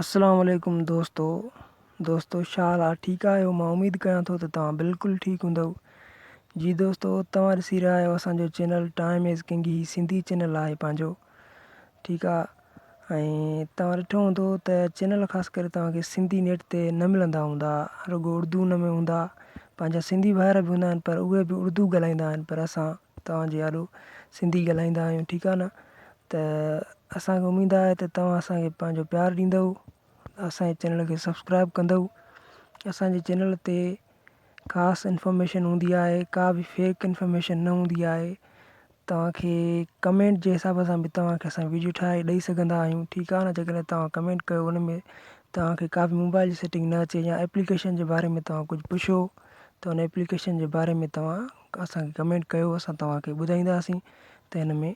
السلام عليڪم دوستو دوستو ڇا حال آ ٺيڪ آھيو مان اميد ڪيان ٿو ته توھان بلڪل ٺيڪ ھوندؤ جي دوستو توھان ڏسي رھيا آھيو اسان جو چينل ٽائيم از ڪنگ ھي سنڌي چينل آھي پنھنجو ٺيڪ آ ۽ توھان ڏٺو ھوندو ته چينل خاص ڪري توھان کي سنڌي نيٽ تي نه ملندا ھوندا رڳو اردو ان ۾ ھوندا پنھنجا سنڌي ڀائر به ھوندا آھن پر اھي به اردو ڳالھائيندا آھن پر اسان توھان جي آڏو سنڌي ڳالھائيندا آھيون ٺيڪ آ نه ته اسان کي اميد آهي ته توهان اسان کي پنهنجو پيار ڏيندؤ اسانجي چينل کي سبسڪرائب ڪندؤ اسانجي چينل تي خاص انفارميشن هوندي آهي ڪا به فيڪ انفارميشن نه هوندي آهي توهان کي ڪمينٽ جي حساب سان به توهان کي اسان ويڊيو ٺاهي ڏئي سگهندا آهيون ٺيڪ آهي نه جي ڪڏهن توهان ڪمينٽ ڪيو ان ۾ توهان کي ڪا به موبائل جي سيٽنگ نه اچي يا ايپليڪيشن جي باري ۾ توهان ڪجهه پڇو ته ان ايپليڪيشن جي باري ۾ توهان اسان کي ڪمينٽ ڪيو اسان توهان کي ٻڌائينداسين ته ان ۾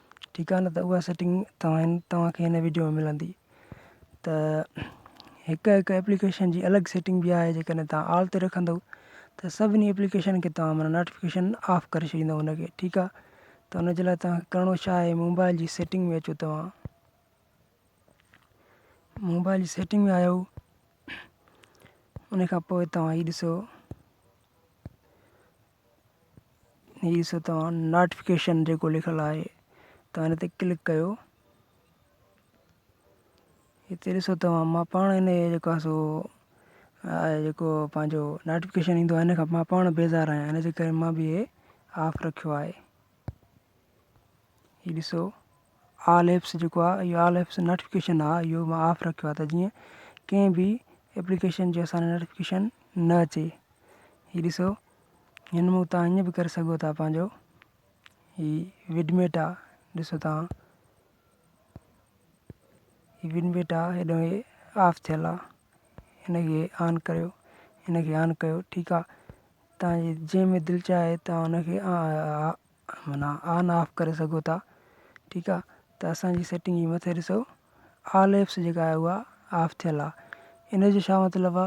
ٺيڪ آ نه ته اها سيٽنگ توهان توهان کي هن وڊيو ۾ ملندي ته هڪ هڪ ايپليڪيشن جي الڳ سيٽنگ به آهي جيڪڏهن توهان آل تي رکندو ته سڀني ايپليڪيشن کي توهان معنيٰ نوٽيفڪيشن آف ڪري ڇڏيندو هن کي ٺيڪ آ ته ان جي لاء توهان کي ڪرڻو ڇا آهي موبائل جي سيٽنگ ۾ اچو توهان موبائل جي سيٽنگ ۾ آيو ان کان پوء توهان هي ڏسو هي سو توهان ناٽفڪيشن جيڪو لکيل آهي توهان هن تي ڪلڪ ڪيو هتي ڏسو توهان مان پاڻ هن جو جيڪو آهي سو آهي جيڪو پنهنجو ناٽفڪيشن ايندو آهي هن کان مان پاڻ بيزار آهيان هن جي ڪري مان به هي آف رکيو آهي هي ڏسو آل ايپس جيڪو آ اهو آل ايپس نوٽيفڪيشن آ اهو مان آف رکيو آ ته جيئن ڪنهن به ايپليڪيشن جو اسان نوٽيفڪيشن نه اچي هي ڏسو هن مون تان هيئن به ڪري سگهو ٿا پنهنجو هي وڊميٽ آ ڏسو تان هي وڊميٽ آ هيڏو هي آف ٿيل آ هن کي آن ڪريو هن کي آن ڪيو ٺيڪ آ تان جي جنهن ۾ دل چاهي تان هن کي معنيٰ آن آف ڪري سگهو ٿا ٺيڪ آ ته اسان جي سيٽنگ جي مٿي ڏسو آل ايپس جيڪا آهي اها آف ٿيل آ ان جو ڇا مطلب آ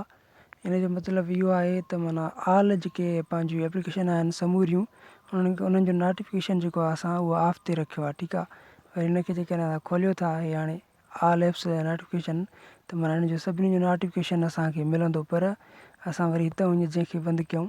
ان جو مطلب اهو آهي ته معنيٰ آل جيڪي پنهنجي ايپليڪيشن آهن سموريون انهن کي انهن جو ناٽيفڪيشن جيڪو آ اسان اهو آف ٿي رکيو آ ٺيڪ آ وري هن کي جيڪڏهن اسان کوليو ٿا هي هاڻي آل ايپس جا ناٽيفڪيشن ته معنيٰ ان جو سڀني جو ناٽيفڪيشن اسان کي ملندو پر اسان وري هتان وڃي جنهن کي بند ڪيون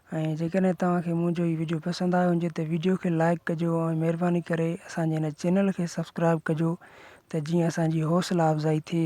۽ جيڪڏهن توهان کي منهنجو هي ويڊيو پسند آيو هجي ته ويڊيو کي لائيڪ ڪجو ۽ مهرباني ڪري اسان جي هن چينل کي سبسڪرائيب ڪجو ته جيئن اسان جي حوصلا افزائي ٿئي